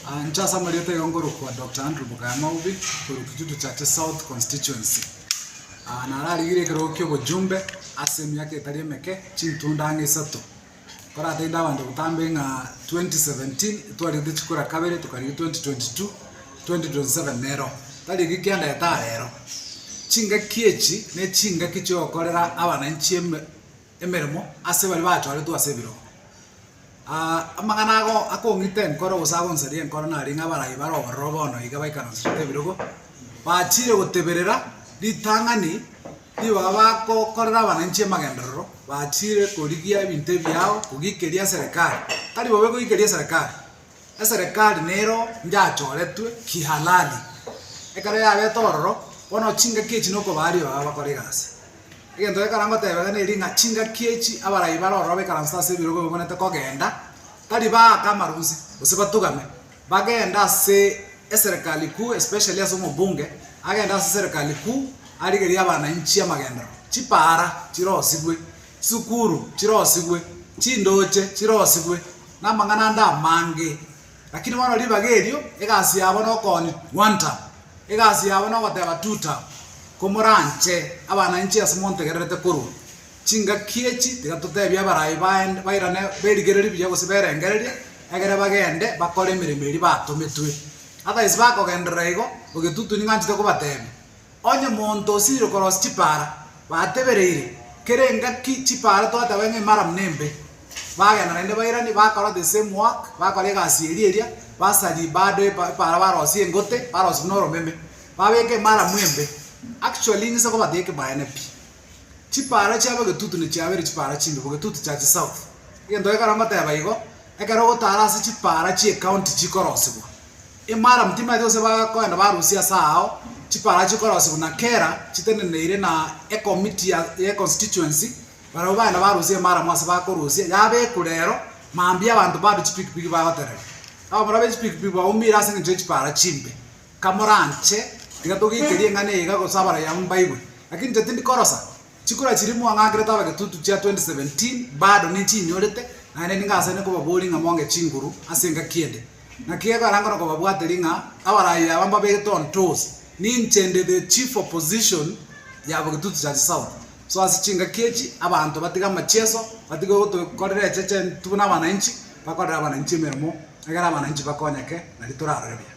Aanche ase amarieta aye nkorokwa Doctor Andrew Bugaya Maubi korwa Kitutu Chache South Constituency. Aa nararigire ekerogo kia obojumbe ase emiaka etari emeke chintunda ang'e isato. Nkoratainde abanto botambe ng'a 2017 etwarigete chikura kabere tokarigia 2022, 2027 nero tari ekio kia daetare ero. Chingaki echi ne chingaki chiogokorera abananchi eme emeremo ase baria bachorertwe ase ebirogo. Amang'ana ago akong'ita enkoro gose agonsaria enkoro nari ng'a abarai bare obororo bono iga baikaranserete ebirogo, bachiire goteberera ritang'ani rigo baba bagokorera abananchi amagenderero, bachiire korigia ebinto ebiao kogikeria eserekari. Tari bobe kogikeria eserekari, Eserekari nero njachoretwe kihalali. Ekero yabete ororo, bono chingaki echi nokobaa aria baba bakora egasi. Egento gekara ngotebege neri ng'a chingaki echi abarai bare ororo baikaransa ase ebirogo bibwenerete kogenda, tari baaka amarunse, gose batugame, bagende ase eserekari kuu, especially ase omobunge, agende ase eserekari kuu arigerie abanainchi amagendero, chipaara chirosigwe, chisukuru chirosigwe, chindoche chirosigwe, namang'ana ande amange, lakini bono ribaga erio egasi yabo nokoonia Gwanta, egasi yabo nogoteba Tuta, komoranche abana inche ase montegererete korwa. Chingaki echi tiga totebie abarai baende bairane berigererie buya gose berengererie, egere bagende bakore emeremo eria batometwe. Otherwise bakogenderera igo, ogetutuni ng'anchete kobatebia. Onye monto osiire korosia chipaara, batebereire, kera engaki chipaara twateba ng'a emaramu nembe. Bagenda naende bairani, bakora the same work, bakora egasi eria eria, basaria bado epa epaara barosie engote, barosie buna oromeme, babeke emaramu embe. Actually ng'ise kobata ekebaene pi. Chipaara chiabo egetutu nechiabeire chipaara chimbe bo egetutu chia chisouth. Egento gekero ngoteba igo, ekero ogotaara ase chipaara chi'ecounty chikorosibwa. Imara motimaete gose bakoenda barusia ase ao chiparachi chikorosigwa na Kera chiteneneire na ekomiti ye constituency barabwo bagenda barusia imara mwase bakorusia yabekwa rero mambia abanto bande chipikipiki bagoterera abamura be chipikipiki baumire ase engencho ye chipara chimbe kamoranche tiga togeikerie eng'ana iga gose abaraiamu mbaigwe lakini inche tindi korosa Chikura chiria mwang'akerete abagetutu chia 2017 bado nichinyorete, naende nigo ase nkobaboria ng'a monge chinguru ase engaki ende. Naki gekoeranka nokobabuateria ng'a abarai aba mbabegete onto ose, ninche nde the chief opposition ya Bogetutu Church South. So ase chingaki echi abanto batige amachieso, batige gotokorera echeche intwe buna abanainchi, bakorere abanainchi emeremo, egere abanainchi bakonyeke, nario torarore buya.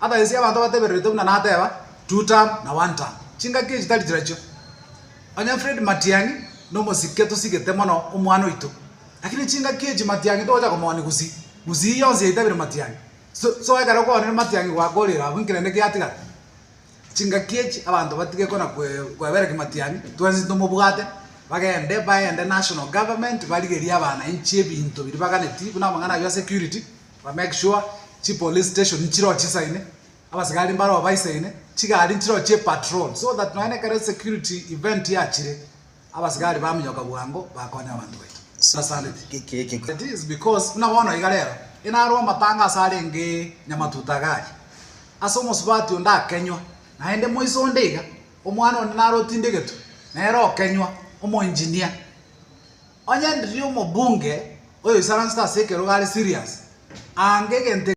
Abaeisi abanto batebererete buna nateba two term na one term chingaki echi tari chirachio. Onye Fred Matiang'i nomosike tosigete mono omwana oito lakini chingaki echi Matiang'i togocha komoni gusii gusii yonsi yaitabire Matiang'i so ekero okoonire Matiang'i gwakorire abwo nki rende giatigara. Chingaki echi abanto batige kona kwebereki Matiang'i twensi tomobwate bagende baende national government barigerie abanainchi ebinto biria baganeti buna amang'ana ayio ya security. Ba make sure chi police station nchiroo chisaine, abasigari mbaroo baisaine, chigari nchiroo chie patrol so that nonya nekero esecurity event yachire, abasigari baminyoka bwango bakonya abanto baito. Asante. It is because buna bono iga rero, inarwe amatanga ase arenge Nyamatuta iga aria, ase omosubati onde akenywa, naende moiso onde iga, omwana onde naro otinde egetwe, nere okenywa, omoengineer. Onye ndiri omobunge oyoisaransete ase ekerogo are serious, aanga egento eke.